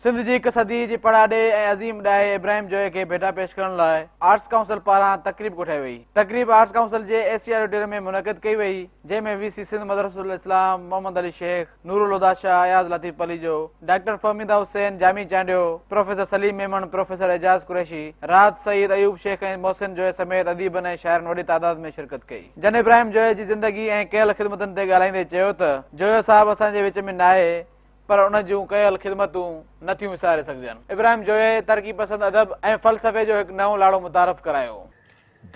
سنڌ جي هڪ صدي جي پڙاڏي ۽ عظيم ڏاهي ابراهيم جويي کي ڀيٽا پيش ڪرڻ لاء آرٽس ڪائونسل پاران تقريب ڪوٺائي وئي. تقريب آرٽس ڪائونسل جي اي سي آڊيٽوريم ۾ منعقد ڪئي وئي، جنهن ۾ وي سي Sindh Madressatul Islam, Muhammad Ali Sheikh, Noorulhuda Shah, Ayaz Latif Palijo, doctor Fahmida Hussain, Jami Chandio, professor Saleem Memon, professor Ejaz Qureshi, Rahat Saeed, Ayub Sheikh ۽ Mohsin Joyo سميت اديبن ۽ شاعرن وڏي تعداد ۾ شرڪت ڪئي. جن ابراهيم جويي جي زندگي ۽ ڪيل خدمتن تي ڳالهائيندي چيو ته جويو صاحب اسان جي وچ ۾ ناهي، پر ان جون ڪيل خدمتون نه ٿيون وساري سگهجن. ابراهيم جويي ترقي پسند ادب ۽ فلسفي جو هڪ نئون لاڙو متعارف ڪرايو.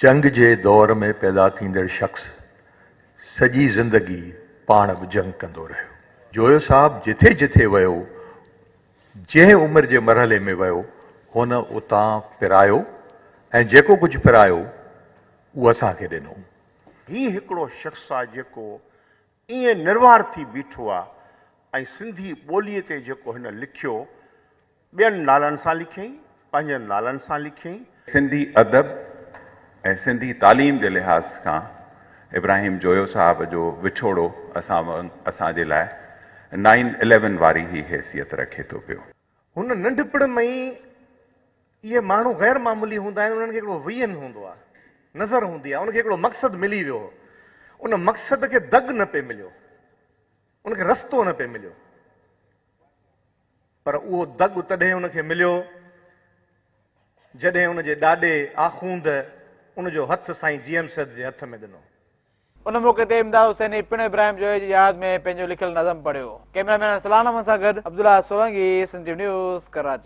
جنگ جي دور ۾ پيدا ٿيندڙ شخص سڄي زندگي پاڻ به جنگ ڪندو رهيو. جويو صاحب جٿي جٿي ويو، جنهن عمر جي مرحلي ۾ ويو، هن اتان پرايو ۽ جيڪو ڪجهه پرايو، اهو اسان کي ڏنو. هي هڪڙو شخص آهي جيڪو ائين نروار ٿي بيٺو آ ۽ سنڌي ٻوليء تي جيڪو هن لکيو، ٻين نالن سان لکيائين، پنهنجن نالن سان لکيائين. سنڌي ادب ۽ سنڌي تعليم جي لحاظ کان ابراهيم جويو صاحب جو وڇوڙو اسان اسان جي لاء نائين اليون واري ئي حيثيت رکي ٿو پيو. هن ننڍپڻ ۾ ئي اهي ماڻهو غير معمولي هوندا آهن، انهن کي هڪڙو ويزن هوندو آهي، نظر هوندي آهي، ان کي هڪڙو مقصد ملي ويو هو، ان مقصد کي دڳ نه پئي مليو، ان کي رستو نه پئي مليو، پر اهو دڳ تڏهن ان کي مليو جڏهن ان جي ڏاڏي آخوند ان جو هٿ سائين جي ايم سيد جي هٿ ۾ ڏنو. ان موقعي تي امداد حسيني پڻ ابراهيم جويي جي ياد ۾ پنهنجو لکيل نظم پڙهيو. ڪيمرا مين ارسلان احمد سان گڏ عبدالله سولنگي، سنڌ ٽيوي نيوز، ڪراچي.